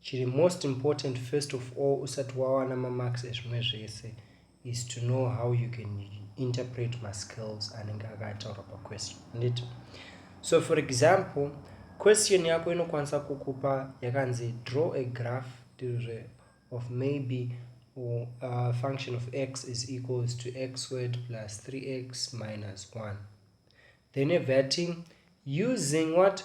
Chiri most important first of all usati wawana mamarks ezvimwe zvese is to know how you can interpret maskills anenge akataurwa paquestion handiti so for example question yako inokwanisa kukupa yakanzi draw a graph tirizve of maybe uh, function of x is equals to x word plus 3x minus 1 then evating using what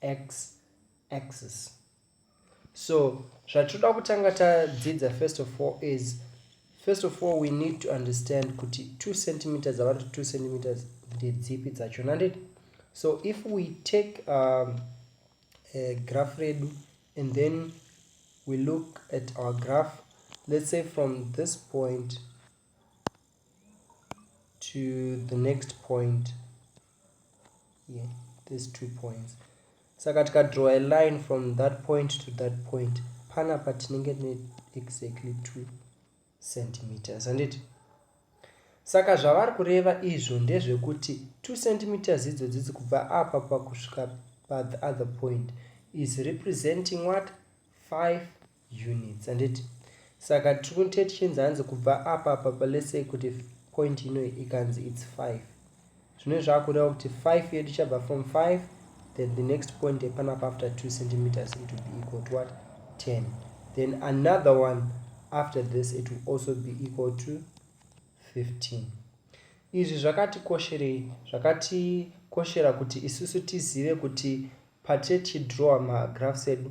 x axis so zvatinoda kutanga tadzidza first of all is first of all we need to understand kuti 2 centimeters avanti 2 centimeters ndedzipi dzacho nanditi so if we take um, a graph redu and then we look at our graph let's say from this point to the next point yeah, these two points saka tikadraw a line from that point to that point pana patinenge ne exactly two centimeters handiti saka zvavari kureva izvo ndezvekuti two centimeters idzo dzidzi kubva apa pakusvika pathe other point is representing what five units handiti saka tiri kunite tichinzi hanzi kubva apa papa lesey kuti point ino ikanzi its 5 zvino zvakureva kuti 5 yedu chabva from 5 then the next point epanapa after 2 centimeters it will be equal to what 10 then another one after this it will also be equal to 15 izvi zvakatikosherei zvakatikoshera kuti isusu tizive kuti patiri tichidrawa magraphs edu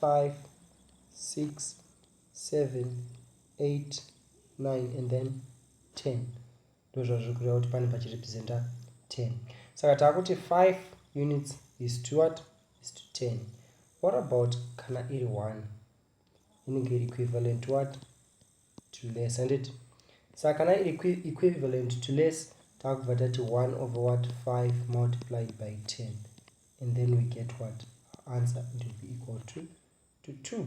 five, six, seven, eight, nine and then ten ndozvazviri kureva kuti pane pachirepresenta ten saka taakuti five units is to what is to ten what about kana iri one inenge iri equivalent to what to less handiti saka kana iri equivalent to less takubva tati 1 over what 5 multiplied by 10 and then we get what answer it will be equal to to 2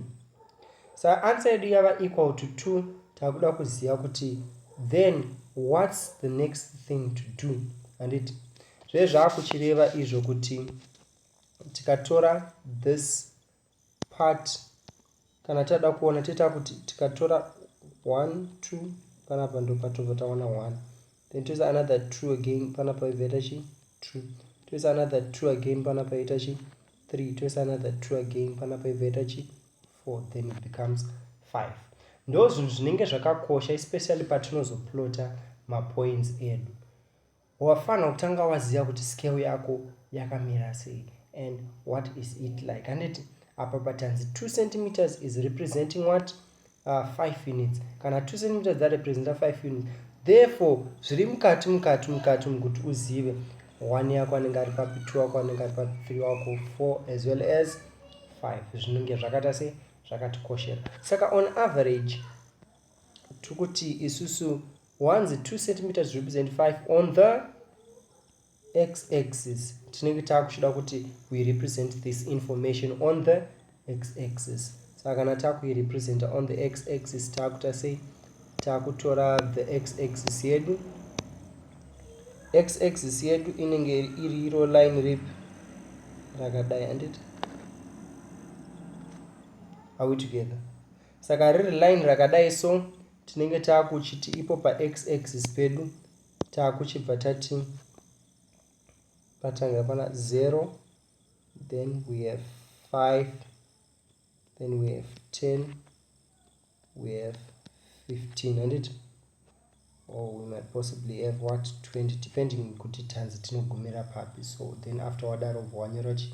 sa answer yedu yava equal to 2 takuda kuziva kuti then what's the next thing to do handiti zvezvaakuchireva izvo kuti tikatora this part kana tatoda kuona toita kuti tikatora one two panapa ndopatobva taona one then toisa another two again panapa ibva ita chi two toisa another two again panapa ita chi three toisa another two again panapa ibva ita chi four then it becomes five ndo zvinhu zvinenge zvakakosha especially patinozoplota mapoints edu Wafanha kutanga waziva kuti scale yako yakamira sei and what is it like handiti apa patanzi 2 centimeters is representing what uh, 5 units kana 2 centimeters dzarepresenta 5 units therefore zviri mukati mukati mukati umu kuti uzive one yako anenge ari papi two wako anenge ari papi three wako four as well as five zvinenge zvakaita sei zvakatikoshera saka on average tiri kuti isusu wanzi 2 centimeters represent 5 on the x axis tinenge taakuchida kuti we represent this information on the x axis saka kana taakuirepresenta on the x axis taakuta sei taakutora the x axis yedu x axis yedu inenge iri iro line rip rakadai anditi are we together saka riri line rakadai so tinenge taakuchiti ipo pax axis pedu taakuchibva tati patanga pana 0 then we have 5 then we have 10 we have 15 handiti or we might possibly have what 20 depending kuti tanzi tinogumira papi so then after wadaro bva wanyora chii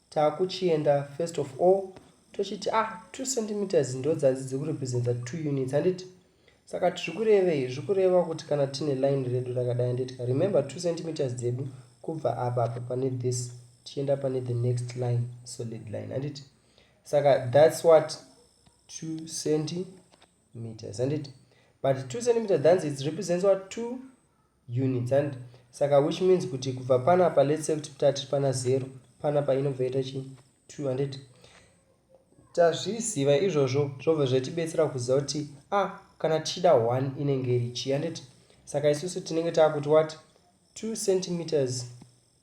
takuchienda first of all tochiti ah 2 centimeters ndodzanzi dziri kurepresenta 2 units handiti saka tiri kurevei zviri kureva kuti kana tine line redu rakadai handitika remember 2 centimeters dzedu kubva apa apa pane this tichienda pane the next line solid line handiti saka thats what 2 centimeters handiti but 2 centimeters dhanzi its represents what 2 units and saka which means kuti kubva panapa let's say kuti tati pana zero panapa inobva ita chii two and it tazviziva izvozvo zvobva zvatibetsera kuziva kuti a ah, kana tichida one inenge iri chii andit saka isusu tinenge taakuti what two centimeters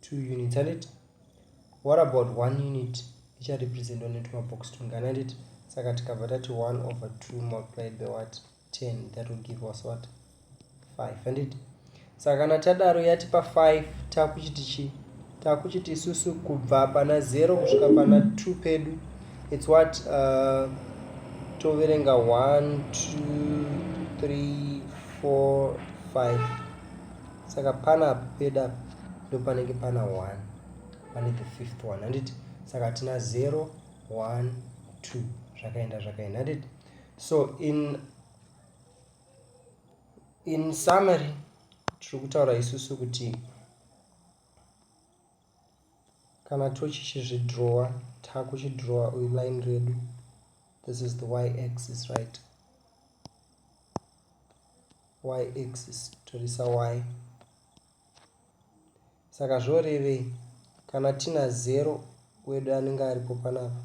two units andit what about one unit icharepresentwa netumabox tungani andit saka tikabva tati one over two multiplied by what ten that will give us what five andit saka kana tadaro yatipa five takuchiti chii takuchiti isusu kubva pana zero kusvika pana two pedu its what uh, toverenga one two three four five saka pana apo peda apo ndo panenge pana 1 pane the fifth one handiti saka tina 0 1 2 zvakaenda zvakaenda handiti so in in summary tiri kutaura isusu kuti kana tochichizvidrowa takuchidrowa uyu line redu this is the y axis right y axis torisa y saka zvorevei kana tina zero wedu anenge aripo panapa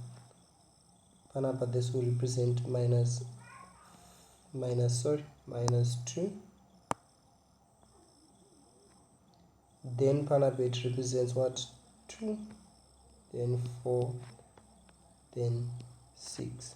panapa this will represent minus minus sorry minus 2 then panapa it represents what 2 then 4 then 6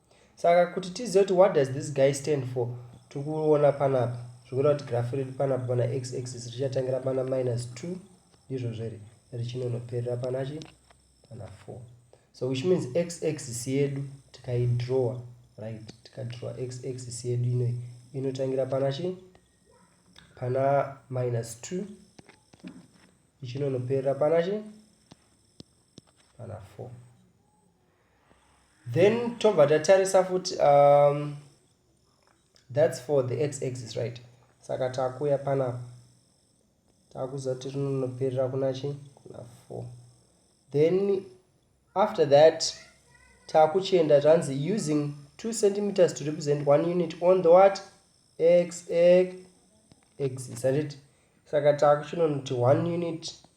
saka kuti tizive kuti what does this guy stand for tiri kuona panapa zvikureva kuti graph riri panapa pana x axis richatangira pana minus 2 ndizvozvo here richinonoperera pana chi pana 4 so which means x axis yedu tikaidrawer right tikadrawer x axis yedu inoi inotangira pana chi pana minus 2 ichinonoperera pana chi pana 4 then tobva tatarisa futi um, thats for the x axis right saka takuya panapa takuziva kuti rinonoperera kuna chi kuna four then after that takuchienda tanzi using two centimeters to represent one unit on the what x x axis handiti saka takuchinonoti one unit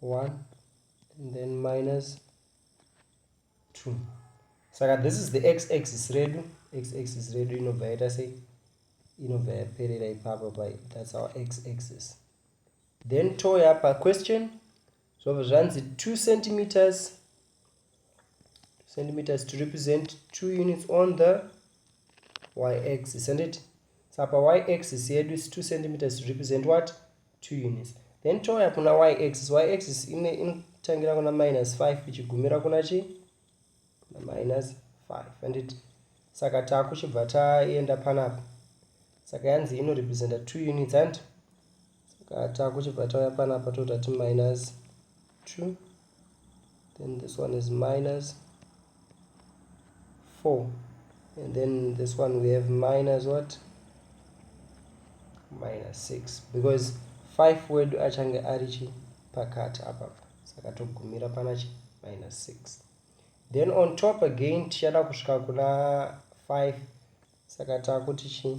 1 and then minus 2 saka this is the x axis redu x axis redu inobva yaita sei inobva yaperera ipapa pa that's our x axis then touya paquestion zvobva zvanzi 2 centimeters centimeters to represent two units on the y x isn't it sapa y axis yedu is two centimeters to represent what two units then touya kuna y axis y axis ine inotangira kuna minus five ichigumira kuna chi na minus five and it saka takuchibva taenda panapa saka yanzi inorepresenta two units and Saka takuchibva tauya panapa toita ti minus 2 then this one is minus 4 and then this one we have minus what minus 6 because 5 wedu achange ari chi pakati apapa saka togumira pana chi minus 6 then on top again tichada kusvika kuna 5 saka takuti chii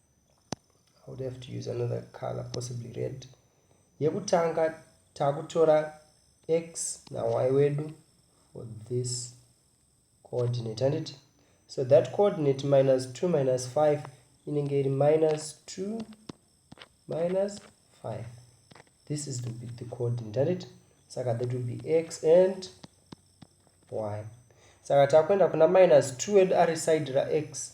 I would have to use another color possibly red yekutanga takutora x nay wedu for this coordinate handiti so that coordinate minus 2 minus 5 inenge iri minus 2 minus 5 this is the, the coordinate handiti saka that will be x and y saka takuenda kuna minus 2 wedu ari side rax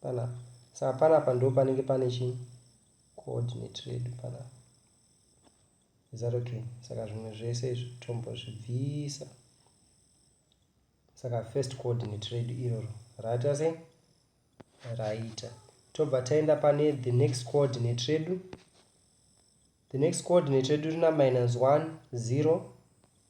Panapa. Saka panapa ndo panenge pane chi coordinate redu panapa. Is that okay? Saka zvimwe zvese izvi tombozvibvisa. Saka first coordinate redu iroro raita sei? Raita. Tobva taenda pane the next coordinate redu. The next coordinate redu rina minus 1, 0,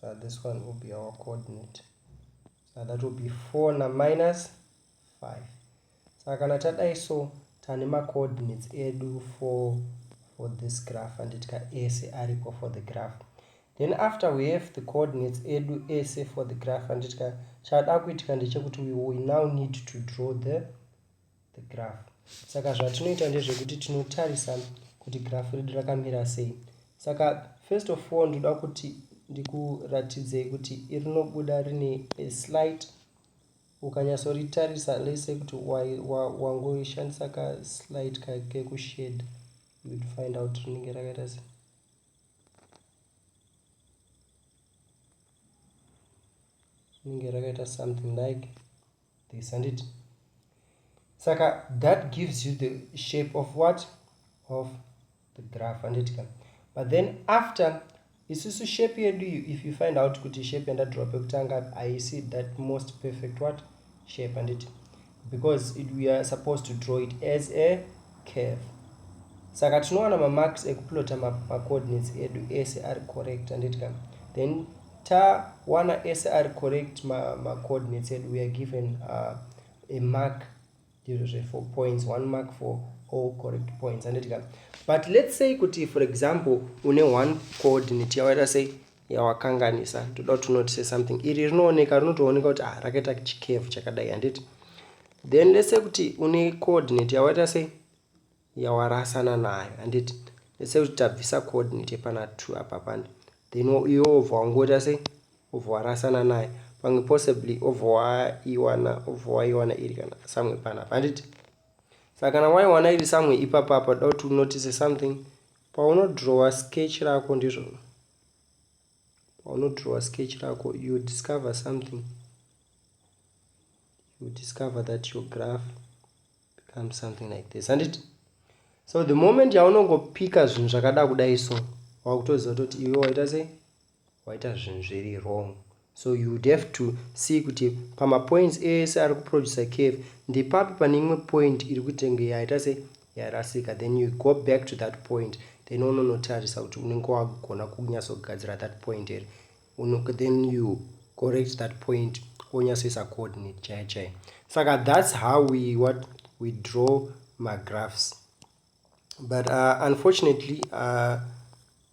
so this one will be our coordinate so that will be 4 na minus 5 saka kana tadai so tane macoordinates edu for for this graph and tika ese aripo for the graph then after we have the coordinates edu ese for the graph and tika chada kuitika ndechekuti we will now need to draw the the graph saka zvatinoita ndezvekuti tinotarisa kuti graph redu rakamira sei saka first of all ndoda kuti ndikuratidzei kuti irinobuda rine a slight ukanyatsoritarisa lese kuti wangoishandisa wa, wa, wa kaslight kekushade you'd find out rinenge rakaita sei rinenge rakaita something like this handiti saka that gives you the shape of what of the graph handiti ka but then after isusu shape yedu iyo if you find out kuti shape yandadrowa pekutanga haisi that most perfect what shape handiti because it, we are supposed to draw it as a Curve. Saka tinowana mamarks ekuplota macoordinates edu ese ari correct handiti ka then tawana ese ari correct macoordinates edu weare given uh, a mark ndizvo zve four points one mark for all correct points handiti ka but let's say kuti for example une one coordinate yawaita sei yawakanganisa toda kuti unotise something iri rinooneka rinotooneka kuti ah rakaita chicave chakadai handiti then let's say kuti une coordinate yawaita sei yawarasana nayo handiti let's say kuti tabvisa coordinate yepana two apa pane then iwe obva wangoita sei obva warasana nayo pamwe possibly obva waiwana obva waiwana iri kana samwe panapa handiti saka kana waiwana iri samwe ipapa apa da kuti unotise something Paunodrowa sketch rako ndizvona. Paunodrowa sketch rako you discover something. You discover that your graph becomes something like this. Handiti? So the moment yaunongopika zvinhu zvakada kudai so wakutoziva kuti iwe waita sei? waita zvinhu zviri wrong so you would have to see kuti pamapoints ese ari kuproducer cave ndepapi pane imwe point iri kutenge yaita se yarasika then you go back to that point then unonotarisa kuti unenge wagona kunyatsogadzira that point here then you correct that point wonyatsoisa coordinate chaiyo chaiyo saka that's how we what we draw magraphs but uh, unfortunately uh,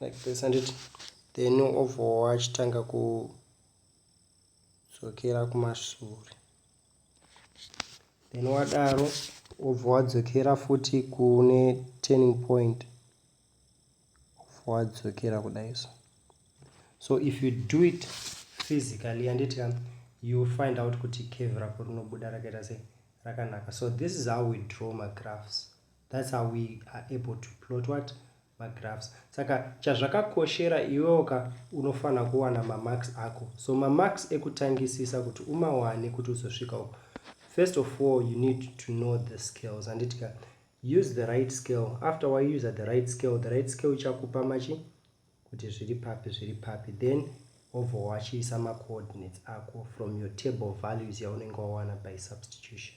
like this handiti then obvowa achitanga kudzokera kumashure then wadaro obva wadzokera futi kune turning point obva wadzokera kudai so so if you do it physically handiti ka you find out kuti cave rako rinobuda rakaita sei rakanaka so this is how we draw magraphs That's how we are able to plot what? Magraphs. Saka chazvakakoshera iwewo ka unofanira kuwana mamarks ako. So mamarks ekutangisisa kuti umawane kuti uzosvika uko. First of all, you need to know the scales. Handiti ka use the right scale. After waiuser the right scale, the right scale ichakupa machi kuti zviri papi zviri papi. Then obva wachiisa macoordinates ako from your table values yaunenge wawana by substitution.